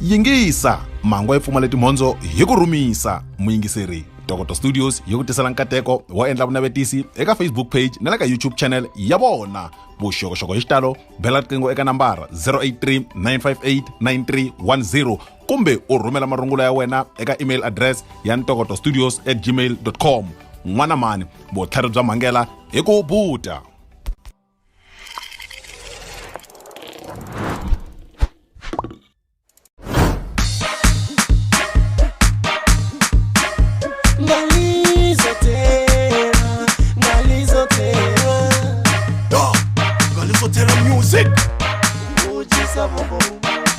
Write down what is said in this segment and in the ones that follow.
yingisa mhangu yi pfumale timhondzo hi ku rhumisa muyingiseri dokoto studios yi ku tisela nkateko wo endla vunavetisi eka facebook page na le ka youtube channel ya vona vuxokoxoko hi xitalo bela riqingho eka nambara 083 958 9310 kumbe u rhumela marungula ya wena eka email address ya ntokoto studios at gmail com n'wana mhani vutlhari bya mhangela hi ku buta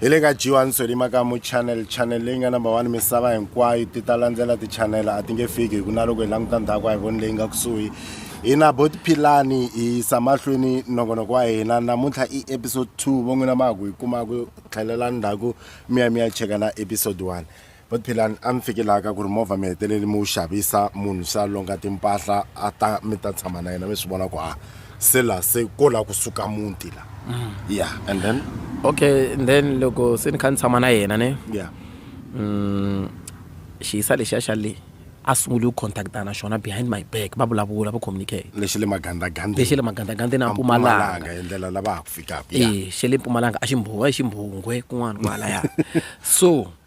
hi le ka jiwa nsweli makamu channel channel leyi nga number one misava hinkwayo ti ta landzela ti-channel a ti nge fiki hi ku na loko hi languta ndhaku a hi voni leyi nga kusuhi hi na bo tiphilani hi yisa mahlweni nongonoko wa hina namuntlha i episode two vo n'wina ma ha ku yi kuma ku tlhelela ndzhaku mi ya mi ya cheka na episode one But Philani a mi fikelaka ku ri movha mi hetelele mi wu xavisa munhu se a longa timpahla a ta mi ta tshama na yena mi swi vona ku ha se la se ko la kusuka muti la mm. ya and then okay and then loko se ni kha ni tshama na yena ne ya mm, xiyisa lexiya xa le a sungule ku contacta na xona behind my back va vulavula va communicate lexi le magandagandeni lexi le magandagandeni a mpumalanga hi ndlela lava ha ku fikaka e xe le mpumalanga a ximbhuwa hi ximbhungwe kun'wana kwalaya so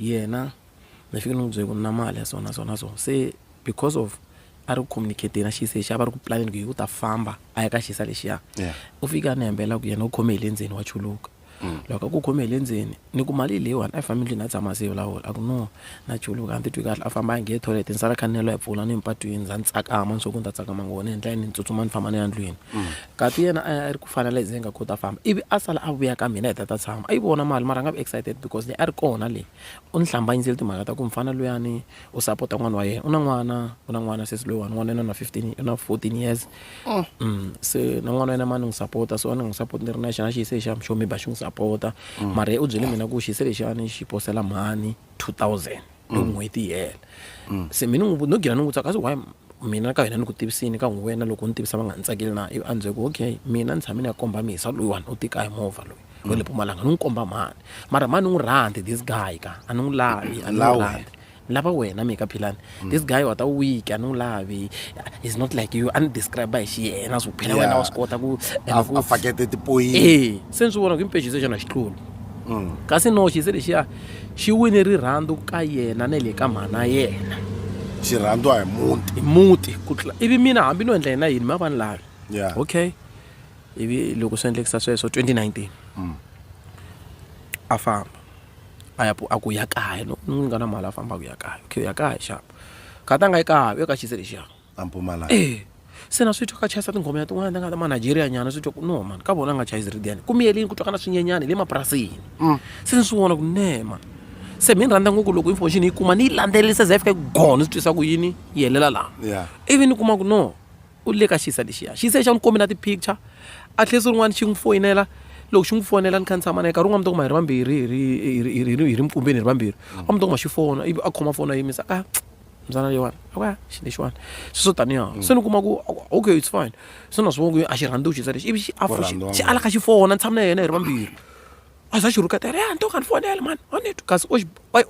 Yena ni fike ni n'wi byela ku na mali ya so na so na so se because of a ri ku communicate na xisa lexi a va ri ku planeni ku hi u ta famba a ya ka xisa lexiya u fike a ni hembela ku yena u khome hi le ndzeni wa chuluka mm. loko a ku khome hi le ndzeni ni ku mali leyiwani a yi fambi ndlwini a tshama se vulavula a ku no na chuluka a ni titwi kahle a famba a nge toilet ni sala kha ni nelo ya pfula ni mpatwini ndza ni tsakama ni swo ku ni ta tsakama ngona hi ndlela ni ni tsutsuma ni famba ni ya ndlwini mm. Ngati yena a a ri ku fana le ndzeni ka ku ta famba ivi a sala a vuya ka mina hi ta ta tshama a yi vona mali mara a nga vi excited because leyi a ri kona leyi u ni hlambanyisile timhaka ta ku mufana luyani u sapota n'wana wa yena u na n'wana u na n'wana sesi loyiwani n'wana yena u na fifteen u na fourteen years se na n'wana wa yena ma ni n'wi sapota so a ni n'wi sapoti ni ri na xana xi yise xa xo maybe a xi n'wi sapota mara yena u byele mina ku xi yise lexiyani xi posela mhani two thousand. loko mm. n'hweti yi hela mm. se mina ni no gina ni n'wi tsaka kasi why mina ka wena ni ku tivisini ka n'wi wena loko ni tivisa va nga ni tsakeli na ivi a ni ku okay mina ni tshame ni ya komba misa loyiwani u tika hi movha loyi wa le pumalanga ni n'wi komba mhani mara mhani ni n'wi rhandi this guy ka a ni n'wi lavi a ni n'wi rhandi ni lava wena mika philani mm. this guy wata week a ni n'wi lavi is not like you a ni describe hi xiyena swo phela wena wa swi kota ku fakete tipoyini e se ni swi vona ku i mpejiso xana xitluni Kasi noxi se lexiya xi wine rirhandzu ka yena na le ka mhana yena. Xirhandzu a hi muti. Hi muti ku tlula ivi mina hambi no endla yena yini ma vani lavi. Yeah. Okay. Ivi loko swi endlekisa sweswo 2019. Mm. A famba. A ya a ku ya kaya no ni nga na mali a famba ku ya kaya. Okay ya kaya xava. Khatanga yi kaya yo ka xise lexiya. a mpumalanga e se na swi twa ka chayisa tinghoma ya tin'wana ta nga ta manigeria nyana swi twa ku no mani ka vona a nga chayisi ridyani ku miyelini ku twa ka na swinyenyana hi le mapurasini mm. se ni swi vona ku ne mani se mi ni rhandza ngopfu loko information yi kuma ni yi landzelelisa za yi fika go ni swi twisa ku yini yi helela laha ivi ni kuma ku no u le ka xisa lexiya xisa xa ni komi na ti-picture a tlhela siku rin'wana xi n'wi foyinela loko xi n'wi fonela ni kha ni tshama na ye karhi un'wana mi ta kuma hi ri vambirhi hi ri mikumbeni hi ri vambirhi a mi ta kuma xi fona ivi a khoma fona a yimisa a mzana leyiwani okay xi lexiwani sweswo taniha mm. se ni kuma ku okay it's fine se na swi vona ku a xi rhandzi u xisa lexi ivi xi afo xi alaka xi fona ni tshama na yena hi ri vambirhi a za xi rhuketela ya nto kani fonela mani a ni twi kasi o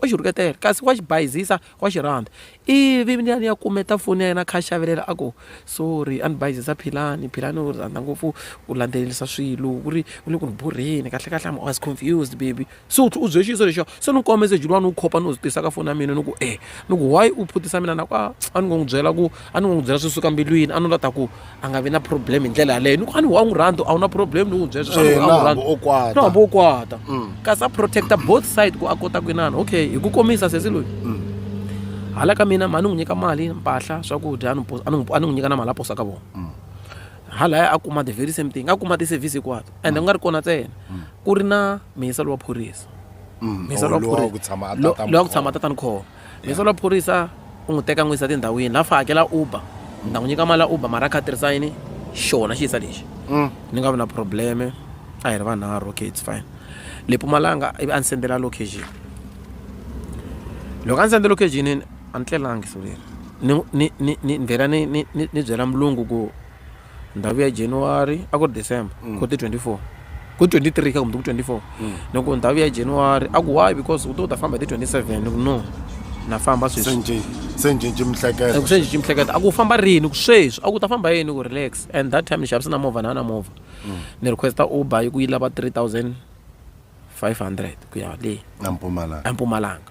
xi rhuketela kasi wa xi bayizisa wa xi rhandza ivi ni ya ni ya kumeta foni ya yena kha xavelela a ku sorry a ni bayizisa philani philani u rhandza ngopfu u landzelelisa swilo ku ri u le ku ni borheni kahlekahle am was confused baby so u byele xiyiso lexo se ni kuma meseji luwani wu khopa ni wu tisa ka foni ya mina ni ku e ni ku why u phutisa mina na ku a a ni ngo n'wi byela ku a ni ngo n'wi byela swi suka mbilwini a ni la ta ku a nga vi na problem hi ndlela yaleyo ni ku a ni wa n'wi rhandza a wu na problem ni n'wi byela sweswo a n'wi rhandza no hambi wo kwata kasi a protecta both side ku a kota ku inana okay hi ku komisa sesi loyi hala ka mina ma ni n'wi nyika mali mpahla swakudya a ni n'wi nyika na mali a posa ka vona halaya a kuma the very same thing a kuma ti-service hinkwato ende ku nga ri kona ntsena ku ri na mihisa lowa phorisa Mm, mihisa oh, lowa lowa phorisa- ku tshama a lo- tata lowa ku tshama Mkhoma. tatani khoma mihisa lowa phorisa u n'wi teka n'wi yisa tindhawini laha fa hakela uber ni ta n'wi nyika mali ya uber mara a kha a tirhisa yini xona xi yisa lexi Mm. ni nga vi na probleme a hi ri vanharhu okay its fine le pumalanga ivi a ni sendela location loko a ni sendela location yini a ni tlelangi so leri ni ni ni ni ni vhela ni ni ni ni byela mulungu ku ndhawu ya January a ku ri December mm. ku ti 24 ku 23 ka kumbe ku 24 mm. ni ku ndhawu ya January a ku why because u to u ta famba hi ti 27 ni ku no na famba sweswi se ncinci mihleketa ku se ncinci mihleketa a ku famba rini ku sweswi a ku ta famba yini ku relax and that time ni xavisa na movha na na movha mm. ni requesta uber yi ku yi lava 3500 ku ya le a mpumalanga a mpumalanga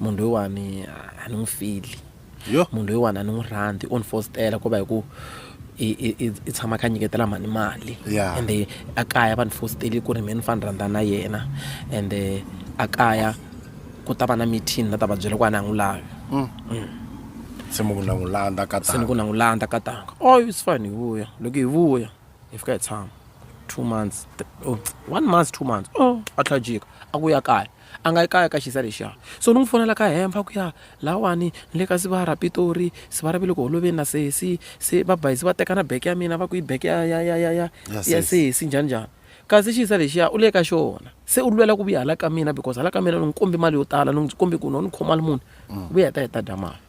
munhu loyiwani a ni n'wi feel-i munhu loyiwani a ni n'wi rhandzi o ni fositela ku va hi ku i i i i tshama a kha a nyiketela mhani mali ende a kaya va ni fositele ku ri mehe ni fane ni rhandza na yena ende a kaya ku ta va na meeting ni la ta va byela ku a ni a n'wi lavi se ni ku na n'wi landza ka se ni ku na n'wi landza ka tanga oi it's fine hi vuya loko hi vuya hi fika hi tshama two months one month two months o a tlhela a jika a ku ya kaya. a nga yi kaya ka xisa lexiya so ni n'wi fonela ka hemfa ku ya lawani ni le ka sivara pitori sivara ve le ku holoveni na sesi se va bayizi va teka na beke ya mina va ku yi beke ya ya ya ya ya ya sesi njhani njhani kasi xisa lexiya u le ka xona se u lwela ku vuya hala ka mina because hala ka mina ni n'wi kombi mali yo tala ni n'wi kombi ku no ni khomali munhu mm. vuya ta heta dya mali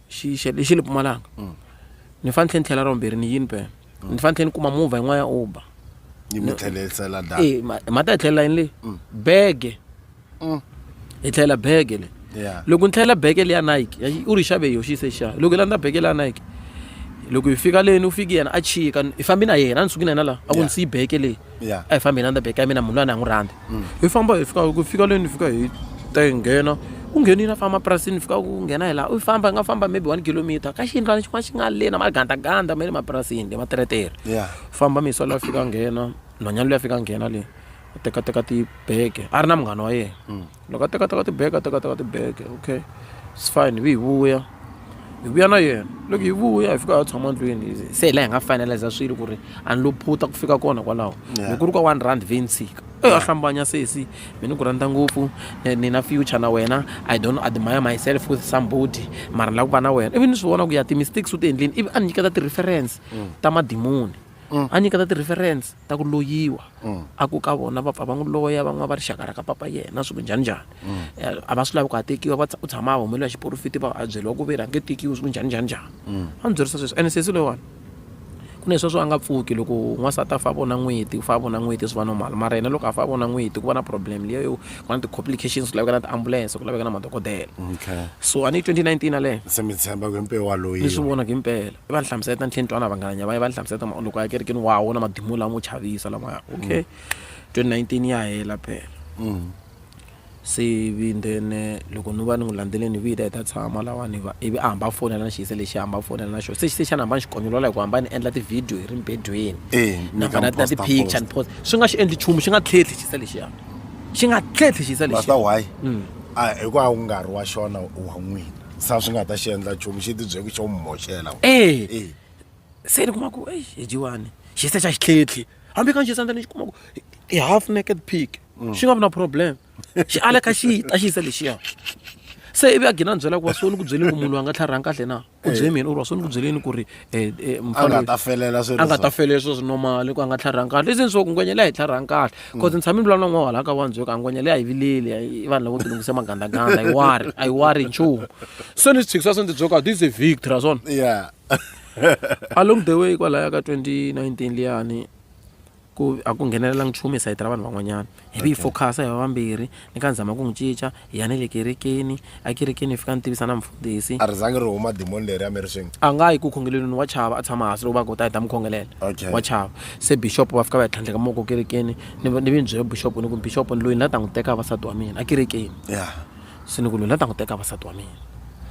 xi xi lexi ni pfumalaka mm. ni fanele ni tlhela ra vumbirhi ni yini pena mm. ni fanele ni kuma movha yin'wana ya uber yi mi tlhelisela data eh ma ta tlhelela yini le mm. bege hi tlhela bege le loko ni tlhela bege le ya Nike u ri xave yo xi se xa loko la ndza bege le ya Nike loko hi fika leni u fiki yena a chika hi fambi na yena a ni suki na yena la a ku ni siyi bege leyi Yeah. a hi fambi hi landza beke ya mina munhu loyi a ni a n'wi rhandza hi famba hi fika ku fika leni hi fika hi ta hi nghena u nghenile a famba mapurasini hi fika ku nghena hi laha u famba hi nga famba maybe one kilometer ka xiyindlwana xin'wana xi nga leni magandaganda ma le mapurasini le materetere Yeah. famba misa loyi a fika a nghena nhwanyana loyi a fika a nghena le a tekateka tibeke a ri na munghana wa yena loko a teka teka tibege a teka teka tibege okay it's fine ivi hi vuya hi vuya na yena loko hi vuya hi fika ha tshama ndlwini se hi laha hi nga finaliza swilo ku ri a ni lo phuta ku fika kona kwalaho hi ku ri ka one rand ve ni tshika e a hlambanya sesi mi ni ku rhandza ngopfu ni na future na wena i don't admire myself with somebody mara ni lava ku va na wena ivi ni swi vona ku ya ti-mistakes u ti endleni ivi a ni nyiketa ti-reference ta madimoni mm. a nyika ta ti-reference ta ku loyiwa mm. a ku ka vona va pfa va n'wi loya van'wana va rixaka ra ka papa yena swi ku njhani njhani mm. eh, a va swi lavi ku a tekiwa va u tshama a humeliwa hi xiporofiti va a byeriwa ku veri a nge tekiwi swi ku njhani njhani njhani a ni byerisa sweswi ene sesi loyiwani ku na sweswo a nga pfuki loko n'wansati a fa vona n'weti u fa vona n'weti swi va normal mara yena loko a fa vona n'weti ku va na problem leyo ku na ti-complications ku laveka na tiambulense ku laveka na madokodela okay so a ni yi 2019 yaleyo se mi tshemba ku mpewu waloyi ni swi vona ku impela i va ni hlamusela ta ni tlhe ni twana vanghanya va ye va ni hlamusela ta ma- loko a ya kerekeni wa wona madimu lamo chavisa lamaya okay 2019 ya hela phela se ivi then eh, loko ni va ni n'wi landzeleni hi vita hi ta tshama lawani va ivi a hamba a fonela na xiyise lexi a hamba a fonela na xona se xise xana hamba ni xi konyolola hi ku hamba ni endla tivhidiyo hi ri mbedweni Eh, mi na ka na mi na posta, ti-picture ni posta swi nga xi endli nchumu xi nga tlhetlhi xise lexiya xi nga tlhetlhi xi sa lexi why mm. a ah, hi ku a wu nga ri wa xona wa n'wina sa swi nga ta xi endla nchumu xi tibyeki xo mi moxela eh. eh. se ni kuma ku eyi hi jiwani xi se xa xi tlhetlhi hambi ka nxisandza ni xi kuma ku i half naked pig mm. xi nga vi na problem xi aleka xi ta xi yisa lexiya se ivi a gina ni byela ku wa so ni ku byeli ku munhu a nga tlharihanga kahle na u byele mina u ri wa swi ni ku byeleni ku ri um a nga ta felela swi a nga ta felela swilo swi normal ku a nga tlharhangi kahle leswi ni swo ku ngwenya leyi a yi tlharhangi kahle bcause mm. ni tshame ni vulavula n'wana wahala ka wandzweka a ngwenya leyi a yi vileli i vanhu lavo tilungisa magandaganda a yi wari a yi wari nchumu se ni swi tshikisa swi ndzi byoka this is a victory swona yeah along the way kwalaya ka 2019 liyani Ku a ku nghenelelanga nchumu hi sayiti ra vanhu van'wanyana. Hi vi hi focus-a hi va vambirhi. Ni ka ni zama ku n'wi cinca, hi ya ni le kerekeni. Ekerekeni ni fika ni tivisa na mufundhisi. A ri zangi ri huma demon leriya mi ri swin'we? A nga yi ku khongelelweni, wa chava. A tshama hansi loko va ku ta hi ta mi khongelela. Okay. Wa chava. Se bixopo va fika va ya tlhandleka moko ekerekeni. Ni ni vi ni byele bixopo ni ku, Bixopo ni loyi ni la ta n'wi teka a va nsati wa mina, ekerekeni. Yeah. se ni ku lula ta n'wi teka vasati wa mina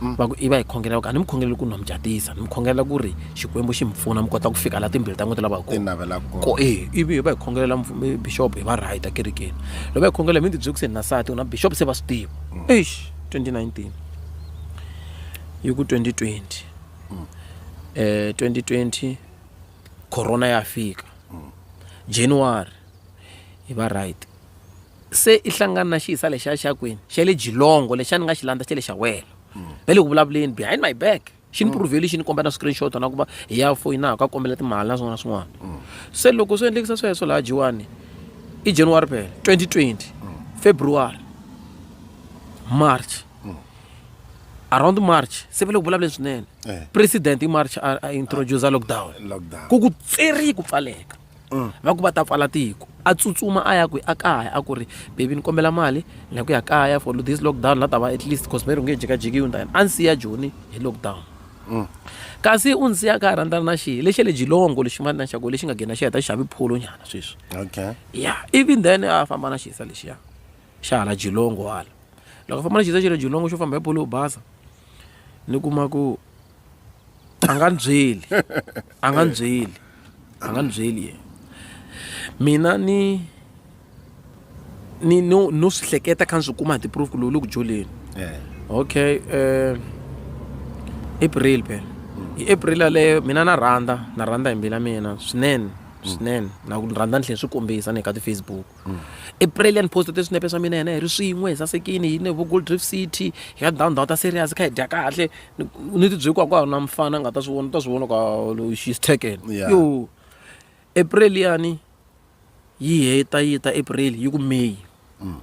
mm. va ku i va hi khongelela ku a ni mi khongeleli ku nwa mi jatisa ni mi khongelela ku ri xikwembu xi mi pfuna mi kota ku fika la timbilu ta n'wina lava hi koko e ivi hi va hi khongelela bixop hi va right a kerekeni loko va hi khongelela mi ni tibyele ku se ni na sati na bixop se va swi tiva mm. eish 2019 yi ku 2020 um 2020 corona ya fika mm. january hi va right se i hlangana na xiyisa lexiya xa kwini xa le jilongo lexiya ni nga xi landza xa le xa wena va le ku vulavuleni behind my back xi ni proveli xi ni komba na screenshot na ku va hi ya foyinaha ka kombela timali na swin'wana na swin'wana se loko swi endlekisa sweswo laha jiwani i january phela 2020 february march around march se va le ku vulavuleni swinene Eh. president i march a a introduce lockdown Lockdown. ku ku tseri ku pfaleka mm. va ku va ta pfala tiko a tsutsuma a ya kwi a kaya a ku ri bebi ni kombela mali ni ya ku ya kaya for this lockdown la ta va at least cause meri u nge jikajikiwi ni ta yena a ni siya joni hi lockdown mm. kasi u ni siya ka ha rhandzana na xihi lexi le jilongo lexi mali na xako lexi nga gena xi heta xi xavi pholo nyana sweswi okay ya even then a famba na xisa lexiya xa hala jilongo hala loko a famba na xisa xa le jilongo xo famba hi pholo yo basa ni kuma ku a nga ni byeli a nga ni byeli a nga ni byeli yena mina ni ni no no swi hleketa kha ni swi kuma hi ti-proof ku lowu le ku joleni okay um april phela hi april yaleyo mina na rhandza na rhandza hi mbila mina swinene swinene na ku rhandza ni tlhela swi kombisa ni le ka ti-facebook mm. i brilliant post ti swinepe swa mina yena hi ri swin'we hi sasekini hi ne vo gold drift city hi ya down down ta serious kha hi dya kahle ni ti byekwa ku na mfana nga ta swi vona ta swi vona ka she's taken yo april yani yi heta yi ta april yi ku may mm.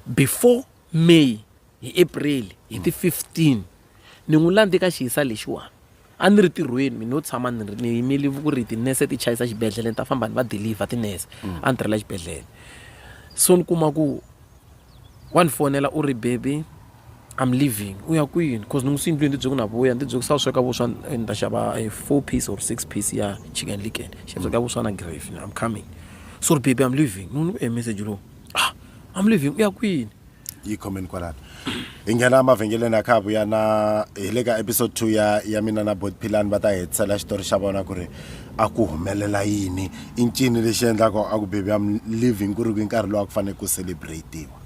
before may hi april hi ti 15 Ni n'wi landze ka xihisa lexiwani. A ni ri tirhweni mina no tshama ni ri ni yimele ku ri tinese ti chayisa xibedhlele ni ta famba ni va deliver tinese a ni tirhela xibedhlele so ni kuma ku wa ni fonela u ri baby I'm leaving u ya kwini cause ni n'wi swi yindlwini ni tibyele ku na vuya ni tibyele ku se a wu sweka vuswa ni ta xava a four piece or six piece ya chicken licken ni ya sweka vuswa na gravy I'm coming so ri baby I'm leaving ni n'wi e meseji lowu I'm leaving u ya kwini. yi khomeni kwalano hi nghena emavhengeleni ya kha vuya na hi le ka episode two ya ya mina na bot philani va ta hetisela xitori xa vona ku ri a ku humelela yini i ncini lexi endlaka a ku baby am living ku ri kwi nkarhi lowu a ku fanele ku celebratiwa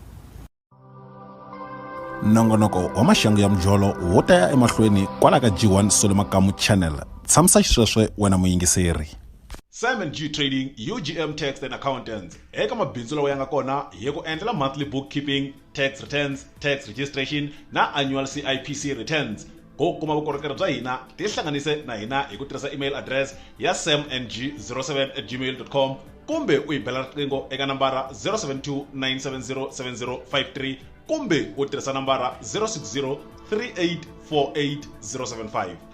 nongonoko wa maxangu ya mujolo wo ta ya emahlweni kwala ka g1 solo makamu channel tshamisa xisweswe wena muyingiseri Simon G Trading, UGM Tax and Accountants. Eka mabindzu lawa ya nga kona hi ku endlela monthly bookkeeping, tax returns, tax registration na annual CIPC returns. Ku kuma vukorhokeri bya hina, tihlanganise na hina hi ku tirhisa email address ya samng07@gmail.com kumbe u hi bela riqingho eka nambara 072 970 7053 kumbe u tirhisa nambara 060 3848 075.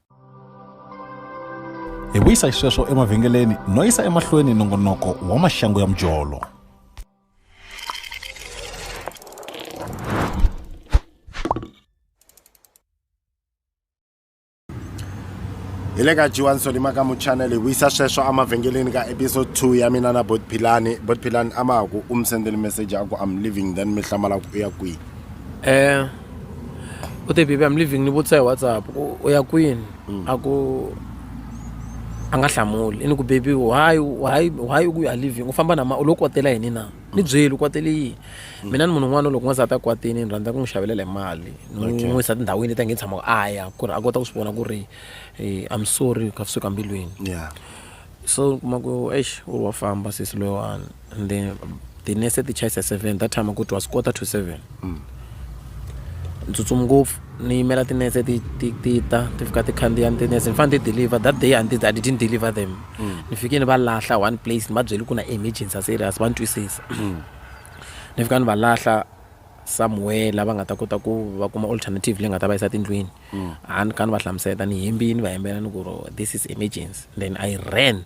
hi vuyisa hi sweswo emavhengeleni no yisa emahlweni nongonoko wa maxangu ya mujolo hi le ka jiwa nsolima ka muchanele hi vuyisa sweswo emavhengeleni ka episode 2 ya mina na bot philani bot philani a ma ha ku u mi sendele message a ku am living then mi hlamala ku u ya kwihi um u te baby I'm leaving ni vutisa hi WhatsApp ku u ya kwini mm. a ku a nga hlamuli i ni ku baby why why why u ku ya leaving u famba na ma u lo kwatela yini na ni mm. byeli u kwatele yini mm. mina ni munhu un'wana loko n'wansati a kwatini ni rhandza ku n'wi xavelela hi mali ni n'wi yisa tindhawini leti a nge tshama a ya ku ri a kota ku swi vona ku ri eh, I'm sorry ka suka mbilwini so kuma ku eish u wa famba sesi loyiwani and then tinese ti chayisa seven that time ku twa swi quarter to seven ni tsutsumi ngopfu ni yimela tinese ti ti ti ta ti fika ti khandziya ni tinese ni fanele ti deliver that day and I didn't deliver them ni fike ni va lahla one place ni va byeli ku na emergency serious va ni twisisa ni fika ni va lahla somewhere la va nga ta kota ku va kuma alternative leyi nga ta va yisa tindlwini a ni ka ni va hlamusela ni hembini va hembela ni ku ro this is emergency then I ran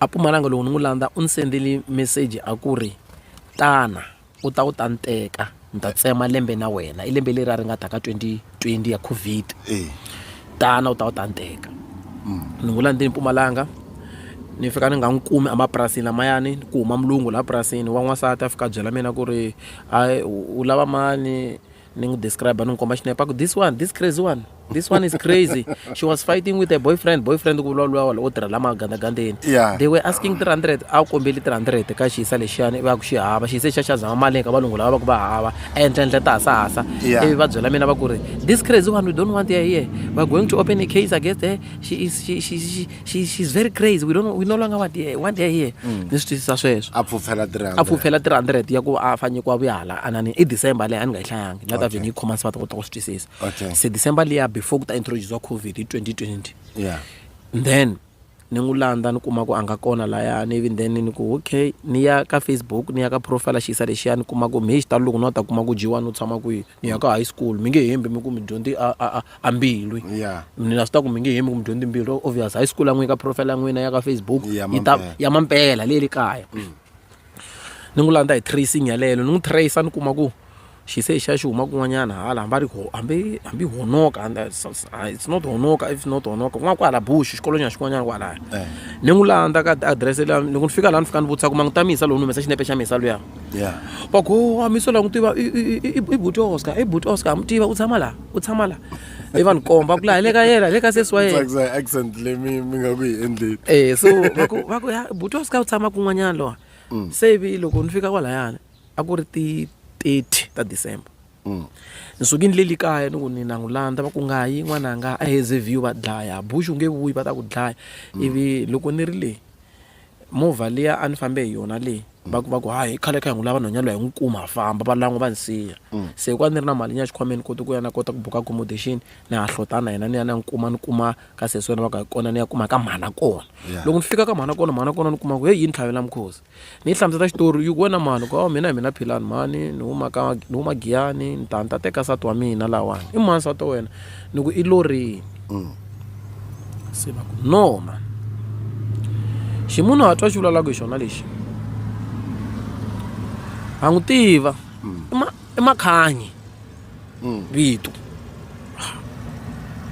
A Mpumalanga loko ni n'wi landza u ni sendele meseji a ku ri, tana u ta u ta ni teka ni ta tsema lembe na wena. I lembe leri a ri nga ta ka twenty twenty ya COVID. Tana u ta u ta ni teka. Ni n'wi landzile Mpumalanga, ni fika ni nga n'wi kumi emapurasini lamayani, ku huma mulungu laha purasini wa n'wansati a fika a byela mina ku ri u lava mani. ni n'wi describe ni n'wi komba xinepe a ku this one this crazy one this one is crazy she was fighting with a boyfriend boyfriend ku vulavula wala wo tirha lama gandagandeni Yeah. they were asking 300 a wu kombeli 300 ka xiyisa lexiyani ivi a ku xi hava xiyise xa xa zama mali ka valungu lava va ku va hava ehenhlenhle ta hasahasa Yeah. ivi va byela mina va ku ri this crazy one we don't want her here we're going to open a case against her she is she, she, she, she, she's very crazy we, don't, we no longer want her, want her here mm. ni swi twisisa sweswo a pfupfela 300 a pfupfela 300 ya ku a fanyikiwa vuyahala anani i december leyi a ni nga yi hlayangi ni nga ta vhe ni yi khoma sivata kota ku swi twisisa se december leya before ku ta introduce wa covid hi 2020 yeah. then ni n'wi landza ni kuma ku a nga kona layani even then ni ku okay ni ya ka facebook ni ya ka profile xiyisa lexiya ni kuma ku mhi xitalo loko ni wa ta kuma ku dyiwa ni u tshama kwihi mi ya ka high school mi nge hembi mi ku mi dyondze a a a a mbilwi Yeah. mina swi ta ku mi nge hembi ku mi dyondze mbilu obvious high school ya n'wina ka profile ya n'wina ya ka facebook Ya yi ta mampela. ya mampela leyi le kaya ni n'wi landza hi tracing yaleyo ni n'wi trace ni kuma ku xi se xa xi huma kun'wanyana hala hambi a ri ho- hambi hambi honoka and that's- that's- ah, it's not honoka if not honoka kun'wana kwahala bush xikolonyana xin'wanyana kwalaya Eh. ni n'wi landza ka adirese leya loko ni fika laha ni fika ni vutisa ku ma n'wi tamisa lowu ni humesa xinepe xa misa luya ya va ku wo Mamiso la n'wi tiva i i i i i buti Oscar i buti Oscar ha mu tiva u tshama laha u tshama laha i va ni komba ku laha hi le ka yena hi le ka sesi wa yena tsakisa accent leyi mi mi nga ku yi endleni eh so va ku va ku ya buti Oscar u tshama kun'wanyana lowa se ivi loko ni fika kwalayani a ku ri ti thirty ta December ni suke ni leli kaya ni ku ni na n'wi landza va ku nga yi n'wananga a haze view va dlaya bush u nge vuyi va ta ku dlaya ivi loko ni ri le Movha liya a ni fambe hi yona leyi va ku va ku hayi khale kha hi n'wi lava nhwanyana loyi hi n'wi kuma ha famba va lan'wa va ni siya se hikuva ni ri na mali ni ya xikhwameni koti ku ya na kota ku buka accommodation ni ha hlota na yena ni ya ni ya n'wi kuma ni kuma ka sesi wena va ku hi kona ni ya kuma ka mhana kona loko ni fika ka mhana kona mhana kona ni kuma ku heyi yini tlhavela mukhosi ni yi hlamusela xitori yi ku wena mhani ku hawu mina hi mina Philani mhani ni huma ka ni huma Giyani ni ta ni ta teka nsati wa mina lahawani i mani nsati wa wena. ni ku i lo rini mm. se va ku noma ximunhu a twa xi vulavulaka hi xona lexi a n'wi tiva mm. i makhanyi mm. vito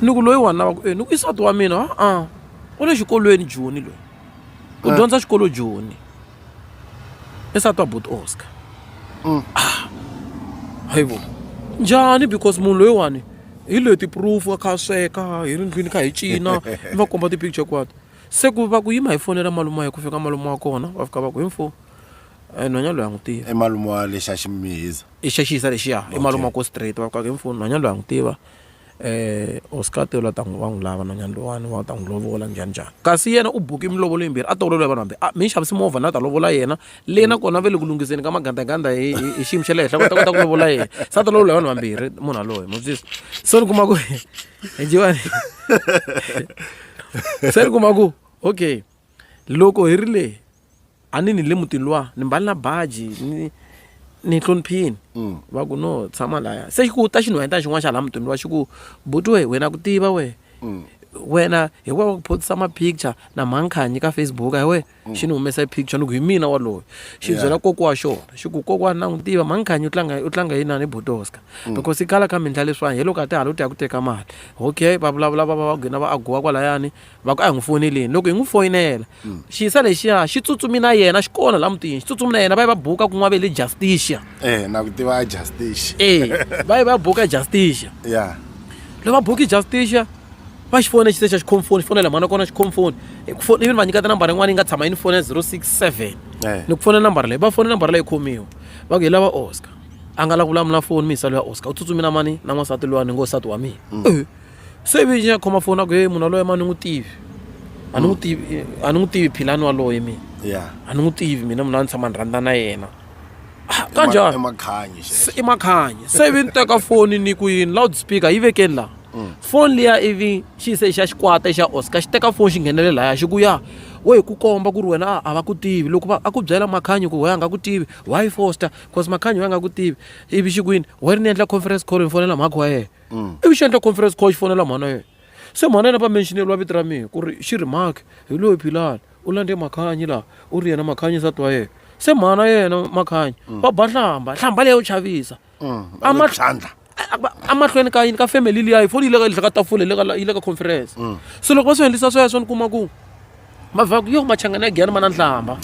ni ku loyi wana va ku e ni ku isati wa mina a-a u le xikolweni joni loyi u dyondza xikolo joni i sati wa bot oscar mm. ah, hayivo njhani because munhu loyiwani hi loyi ti-proof a kha a sweka hi ri ndlwini kha hi cina mi va komba ti-picture kwato se ku va ku yima hi fonela malume ya ku fika malume wa kona va fika va ku hi mfo eh, nhwanya loyi a n'wi tiva emalume wa lexa ximihiza i xa xiyisa lexiya i malume wa ko straight va fika hi mfo nhwanya loyi a n'wi tiva Hosi Nkati yalawa a ku va n'wi lava nhwanyana loyiwani u ta n'wi lovola njhaninjhani. Kasi yena u buke milovolo yimbirhi a tolovele vanhu hambi a mi ni xavise movha ni ya ta lovola yena, le nakona va le ku lunghiseni ka magandaganda hi hi hi xiyimo xa le henhla va ta kota ku lovola yena. Se a ta lovola hi vanhu vambirhi munhu yaloye ma swi twisisa. So ni kuma ku se ni kuma ku okay loko hi ri le. a ni ni le mutini luwa ni mbali na baji ni ni hloniphini mm. va ku no tshama laya se ku ta xinhwanyetana xin'wana xa laha mutini luwa xi ku buti we wena ku tiva we mm. wena hi wa wa ku photisa mapicture na mankhanyi ka facebook hi we mm. xi ni humesa e picture ni ku hi mina waloyo xi yeah. byela koko wa xona xi ku kokwana na n'wi tiva mankhanyi u tlanga u tlanga yini na ni botoska mm. because i kala ka mindla leswiwani hi loko a ti hala u ti ya ku teka mali okay va vulavula va va va gina va agowa kwalayani va ku a hi n'wi foyineleni loko hi n'wi foyinela hmm. xiyisa lexiya xi tsutsumi na yena xi kona laha mutini xi tsutsumi na yena va yi va buka kun'wa ve le justicia e na ku tiva a justicia e va yi va buka justicia ya loko va buki justicia va xi fona xise xa xi khomfoni xi fonela mhana kona xi khomfoni even va nyika tinambara yin'wana yi nga tshama yi ni fona zero six seven ni ku fona nambara leyi va fona nambara leyi khomiwa va ku hi lava oscar a nga la ku vulamula foni miyisa loya oscar u tsutsumi na mani na n'wansati lowa ni ngo nsati wa mina hmm. so ivi nya khoma foni a ku heyi munhu waloye ma ni n'wi tivi a ni n'wi tivi a ni n'wi tivi philani waloye mina yeah a ni n'wi tivi mina munhu a ni tshama ni rhandza na yena Ah, i kanjhani makhanyi Se- i makhanyi se ivi ni teka foni ni ku yini loud speaker yi vekeni laha foni liya ivi xi yise xa xikwata xa oscar xi teka foni xi nghenele laya xi ku ya we hi ku komba ku ri wena a- a va ku tivi loko va a ku byela makhanyi ku we a nga ku tivi why foster cause makhanyi we a nga ku tivi ivi xi ku yini we ri ni endla conference call ni fonela mhakhi wa yena mm. ivi xi endla conference call xi fonela mhana yena se mhana yena va mentioneriwa vito ra mina ku ri xi ri mark hi loyi philani u landze makhanyi laha u ri yena makhanyi nsati wa yena se mhana yena makhanyi mm. va ba nhlamba nhlamba leyo chavisa amatlhandla amahlweni ka yini ka family liya yi foni yi le ka tafula yi le ka conference se loko va swi endlisa sweswo ni kuma ku mavhaku yo machangana ya giyana ma na nhlamba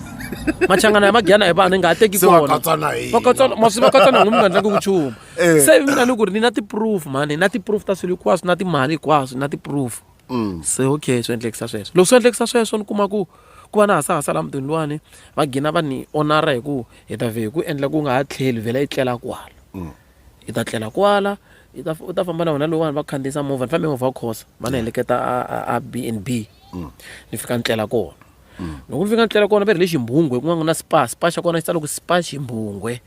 machangana ya magiyana hi vanhu hi nga ha teki konamasi va katsana n'wi mi nga ndlangi vuchumu eh. se mina ni ku ri ni na ti-proof mani na ti-proof ta swilo hinkwaswo na timali hinkwaswo na ti-proof mm. se okay swi endlekisa sweswo loko swi endlekisa sweswo ni kuma ku ku va na hasahasa la mutini luwani va gina va ni onara hi ku hi ta vhe hi ku endla ku nga ha tlheli vhela yi tlela kwala mm. Hi ta tlela kwala, hi ta u ta famba na vona loko vanhu va khandziyisa movha ni fambe movha wa khosa va ni heleketa a a a B and B ni fika ni tlela kona loko ni fika ni tlela kona va ri hi le ximbhungwe ku nga ku na spa spa xa kona xi tsala ku spa ximbhungwe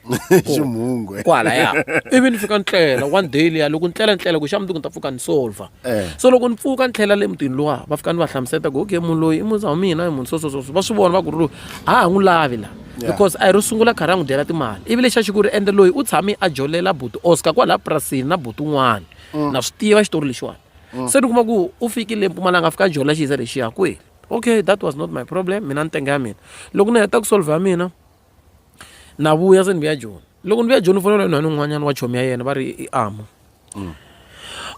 Ximunghwe. kwala ya ivi ni fika ni tlela one day liya loko ni tlela ni tlela ku xa mundzuku ni ta pfuka ni solver Eh. so loko ni pfuka ni tlhela le mutini luwa va fika ni va hlamusela ku okay munhu loyi i muza wa mina i munhu so so so so. va swi vona va ku ri loyi a ha n'wi lavi la Yeah. because a hi ro sungula khari a n'wi dyela timali ivi lexi a xi ku ri ende loyi u tshame a jolela buti oscar kwalaha purasini na buti un'wana Mm. na swi tiva xitori lexiwani se ni kuma ku u fikile empumalanga a fika a jolela xiza lexiya kweli okay that was not my problem mina ni tenge ya mina loko ni heta ku solve ya mina na vuya se ni vuya joni loko ni vuya joni u fonela yona ni un'wanyana wa chomi ya yena va ri i ama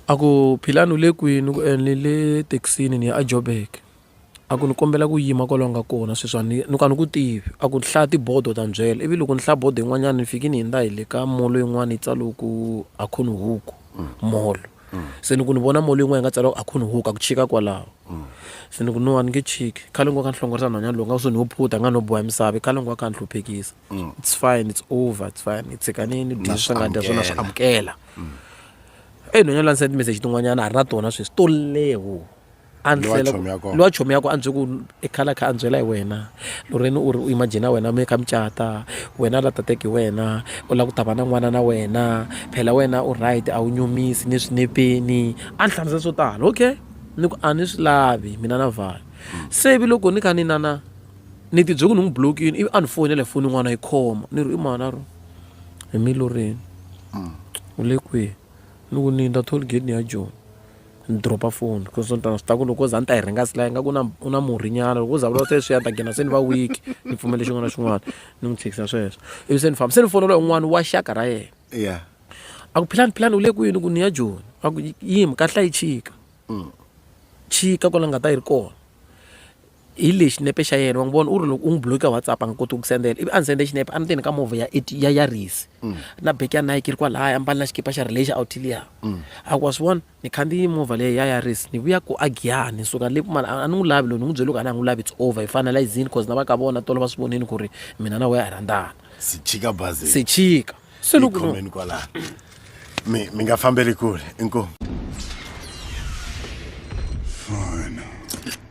a ku philani u le kwini ku ene le thekisini ni ya a jobek A ku ni kombela ku yima kwalaho u nga kona sweswi a ni ni ku a ni ku tivi a ku hlaya tibodo u ta ni byela ivi loko ni hlaya bodo yin'wanyana ni fike ni hundza hi le ka molo yin'wana yi tsaliwe ku Akhonihuku mall se ni ku ni vona molo yin'wana yi nga tsaliwa ku Akhonihuku a ku chika kwalaho se ni ku no a ni nge chiki khale ni ngo ka ni hlongorisa nhwanyana lowu nga ku se ni ho phutha a nga no boha misava i khale ni ngo a kha a ni hluphekisa it's fine it's over it's fine hi tshika ni ni dye swi nga dya swona swi amukela e nhwanyana la ni send message tin'wanyana a ri na tona sweswi to leha wo. a Ni wa ndlela chomi ya kona. ni wa chomi yako a ndzi ku i khala kha a byela hi wena loreni u ri u imagina wena mi ka mucata wena la tateki hi wena u lava ku ta va na n'wana na wena phela wena u right a wu nyumisi ni swinepeni a ni hlamusela swo tala okay ni ku a ni swi lavi mina na vhaya se vi loko ni kha ni nana ni tibyele ku ni n'wi blokini ivi a ni foyinela hi foni yin'wana yi khoma ni ri i mani a ro hi miloreni u le kwihi ni ku ni ta toll gate ni ya joni Ni drop-a foni coz ni swi tiva ku loko o ze a ni ta yi rhanga se la ingaku u na u na murhinyana loko o za a vulavula sweswiya ni ta gina se ni va weak ni pfumele xin'wana na xin'wana ni n'wi tshikisa sweswo ivi se ni famba se ni fonela un'wana wa xaka ra yena ya a ku philani philani u le kwini ku ni ya joni a ku yimi kahlula yi chika chika kwala ni nga ta yi ri kona hi leyi xinepe xa yena wa n'wi vona u ri loko u n'wi bloke ka whatsapp a nga koti ku sendela ivi a ni sende xinepe a ni teni ka movha ya ya ya risi mm. na beki ya nike ri kwalaya a mbali na xikipa xa relation autilia mm. a ku wa swi vona ni khandziyi movha leyi ya ya risi ni vuya ku a giyani ni suka le mali a ni n'wi lavi loyi ni n'wi byele ku a ni a n'wi lavi it's over hi finalizini cause na va ka vona tolo va swi vonini ku ri mina na weya hi rhandzana sichika bazi sichika se loko kwalaya mi mi nga fambeli kule inkomu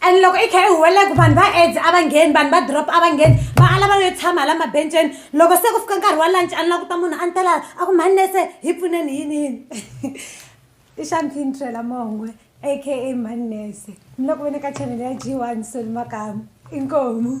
and loko i kha i huweleka vanhu va aids a va ngheni vanhu va drop a va ngheni va ala va yo tshama hala mabenceni loko se ku fika nkarhi wa lunch a ni languta munhu a ni tela a ku mhani nese hi pfuneni yini yini i xamfintrela mongwe aka mhani nese ni loko ve ni ka chanele ya g one soli makamu inkomu